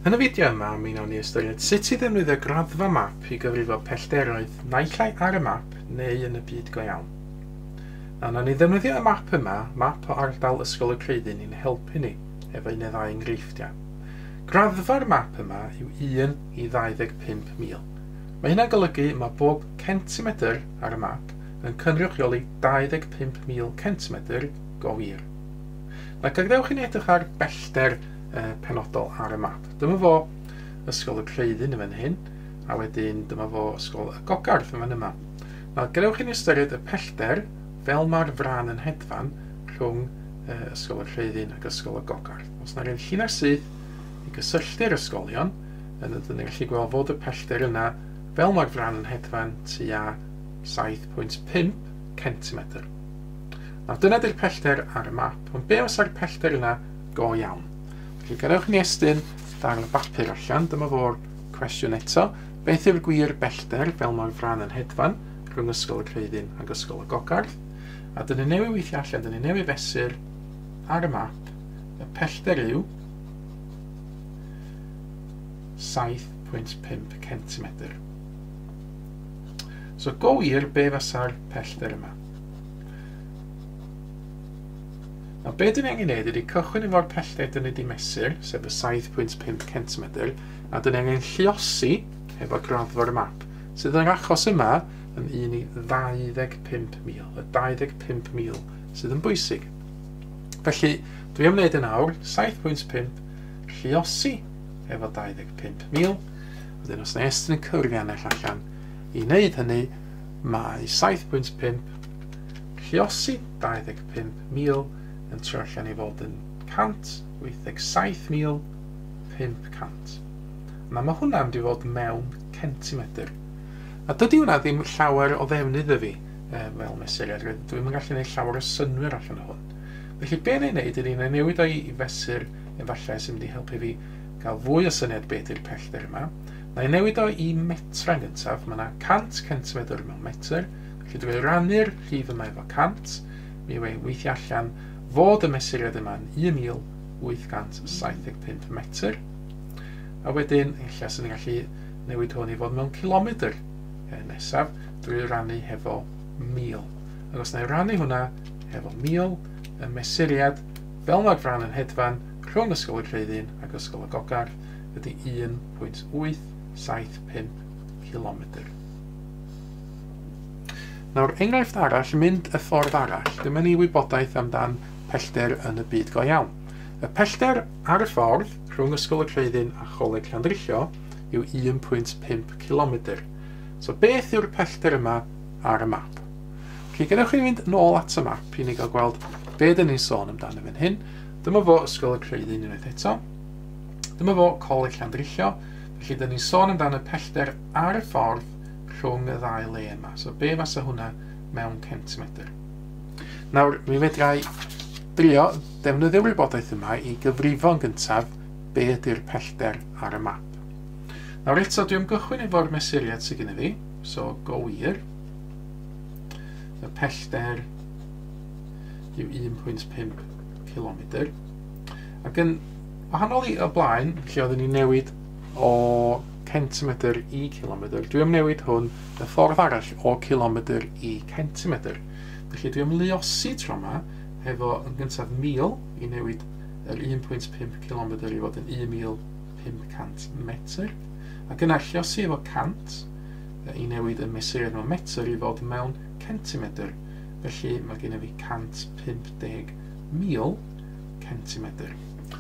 Yn y fideo yma, mi wnawn ni ystyried sut i ddefnyddio graddfa map i gyfrifo pellteroedd naill ai ar y map neu yn y byd go iawn. Na wnawn ni ddefnyddio y map yma, map o ardal Ysgol y Creuddyn i'n helpu ni efo un neu ddau enghreifftiau. Graddfa'r map yma yw 1 i 25,000. Mae hynna'n golygu mae bob centimetr ar y map yn cynrychioli 25,000 centimetr go wir. Na, gadewch i ni edrych ar bellter uh, penodol ar y map. Dyma fo Ysgol y Creuddyn yn fan hyn, a wedyn dyma fo Ysgol y Gogarth yn fan yma. Nawr, gadewch i ni ystyried y pellter fel mae'r fran yn hedfan rhwng uh, Ysgol y Creuddyn ac Ysgol y Gogarth. Os yna rhywun llinell syth i gysylltu'r ysgolion, yn ydyn ni'n gallu gweld fod y pellter yna fel mae'r fran yn hedfan tua 7.5 centimetr. Nawr dyna di'r pellter ar y map, ond be os ar y pellter yna go iawn? Felly gadewch ni estyn darn o bapur allan, dyma fo'r cwestiwn eto. Beth yw'r gwir bellter fel mae'r fran yn hedfan rhwng Ysgol y Creuddyn ac Ysgol y Gogarth? A dyn ni newydd weithio allan, dyn ni newydd fesur ar y map, y pellter yw 7.5 cm. So go wir, be fasa'r pellter yma? Nawr, be dyn ni angen neud ydy cychwyn efo'r pellter dyn ni wedi mesur, sef y 7.5 centimetr, a dyn ni angen lliosi efo graddfa'r map, sydd yr achos yma yn un i 25,000, y 25,000 sydd yn bwysig. Felly, dwi am wneud yn awr 7.5 lliosi efo 25,000, wedyn os na estyn yn cyrru anell allan i wneud hynny, Mae 7.5, lluosi 25,000, yn trio allan i fod yn 187,500. Na, mae hwnna'n mynd i fod mewn centimetr. A dydy hwnna ddim llawer o ddefnydd iddi e, fel mesuriad, rydw ddim yn gallu gwneud llawer o synwyr allan o hwn. Felly be neu wneud ydy na newid o'i fesur efallai sy'n mynd i helpu fi gael fwy o syniad beth ydy'r pellter yma. Mae e'n newid o i metra yn gyntaf, mae yna 100 centimedr mewn metr, felly dwi wedi rannu'r llif yma efo 100, mi yw e'n weithio allan fod y mesuriad yma'n 1875 metr, a wedyn ella sy'n ni'n gallu newid hwn i fod mewn cilomedr e, nesaf, drwy rannu hefo 1000. Ac os na i rannu hwnna hefo 1000, y mesuriad fel mae'r fran yn hedfan rhwng Ysgol y Creuddyn ac Ysgol y Gogarth, ydy 1.875 cilomedr. Nawr, enghraifft arall, mynd y ffordd arall. Dyma ni wybodaeth amdan pellter yn y byd go iawn. Y pellter ar y ffordd rhwng Ysgol y Creuddyn a Choleg Llandrillo yw 1.5 cilomedr. So beth yw'r pellter yma ar y map? Felly, gennych chi fynd nôl at y map i ni gael gweld be dyn ni'n sôn amdano fan hyn. Dyma fo Ysgol y Creuddyn unwaith eto. Dyma fo, Coleg Llandrillo. Felly, dyn ni'n sôn amdan y pellter ar y ffordd rhwng y ddau le yma. So, be fasa hwnna mewn centimetr? Nawr, mi fedrai drio defnyddio'r wybodaeth yma i gyfrifo'n gyntaf be ydy'r pellter ar y map. Nawr eto, dwi'n gychwyn efo'r mesuriad sydd gen i fi, so go wir. Y pellter yw 1.5 km. Ac yn Wahanol i y blaen, lle oedden ni'n newid o centimetr i kilometr, dwi am newid hwn y ffordd arall o kilometr i centimetr. Felly dwi am luosi tro yma efo yn gyntaf 1000 i newid yr 1.5 km i fod yn 1500 metr ac yna lliosi efo 100 i newid y mesuriad mewn metr i fod mewn centimetr felly mae gen i fi 150,000 centimetr.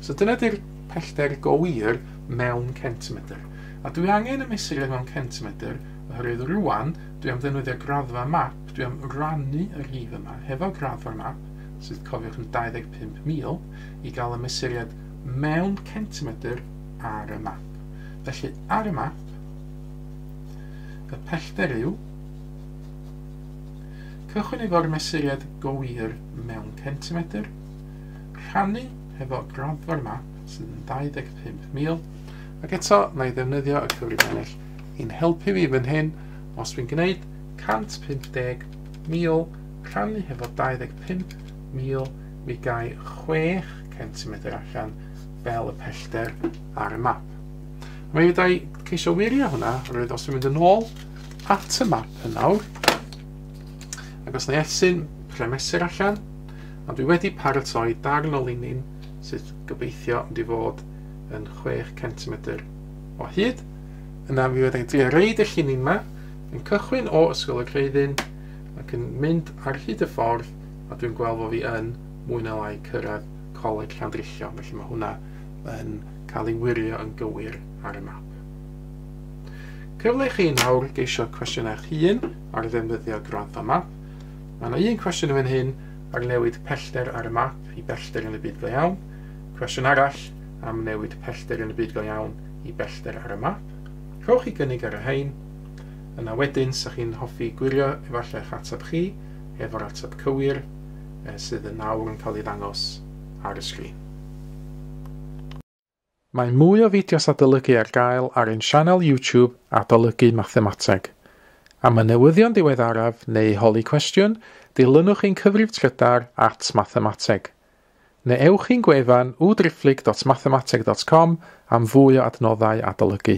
So dyna di'r pellter go wir mewn centimetr. A dwi angen y mesur e mewn centimetr, oherwydd rwan dwi am ddefnyddio graddfa map, dwi am rannu y rhif yma hefo graddfa'r map, sydd cofiwch yn 25,000, i gael y mesuriad mewn centimetr ar y map. Felly ar y map, y pellter yw Cychwyn efo'r mesuriad go wir mewn centimetr, rhannu hefo'r graddfa'r yma sydd yn 25,000 ac eto na i ddefnyddio y cyfrif ennill i'n helpu fi fan hyn os fi'n gwneud 150,000 rhannu hefo 25,000 mi gai 6 centimetr allan fel y pellter ar y map a mi fyddai ceisio wirio hwnna roedd os fi'n mynd yn ôl at y map yn nawr ac os na i esyn premesur allan Ond dwi wedi paratoi darn o linyn sydd gobeithio ond i fod yn chwech centimedr o hyd. Yna mi fyddai'n trio reid y llinyn ma, yn cychwyn o Ysgol y Creuddyn ac yn mynd ar hyd y ffordd a dwi'n gweld fo fi yn mwy na lai cyrraedd Coleg Llandrillo, felly mae hwnna yn cael ei wirio yn gywir ar y map. Cyfle i chi nawr geisio cwestiynau eich hun ar ddefnyddio gwrando map. Mae yna un cwestiwn yn fan hyn ar newid pellter ar y map i bellter yn y byd go iawn, cwestiwn arall am newid pellter yn y byd go iawn i bellter ar y map. Rhowch chi gynnig ar y rhain, yna wedyn sa chi'n hoffi gwirio efallai eich ateb chi efo'r ateb cywir eh, sydd yn nawr yn cael ei ddangos ar y sgrin. Mae mwy o fideos adolygu ar gael ar ein sianel YouTube Adolygu Mathemateg. Am y newyddion diweddaraf neu i holi cwestiwn, dilynwch ein cyfrif trydar at Mathemateg. Neu ewch i'n gwefan www.driphlyg.mathemateg.com am fwy o adnoddau adolygu.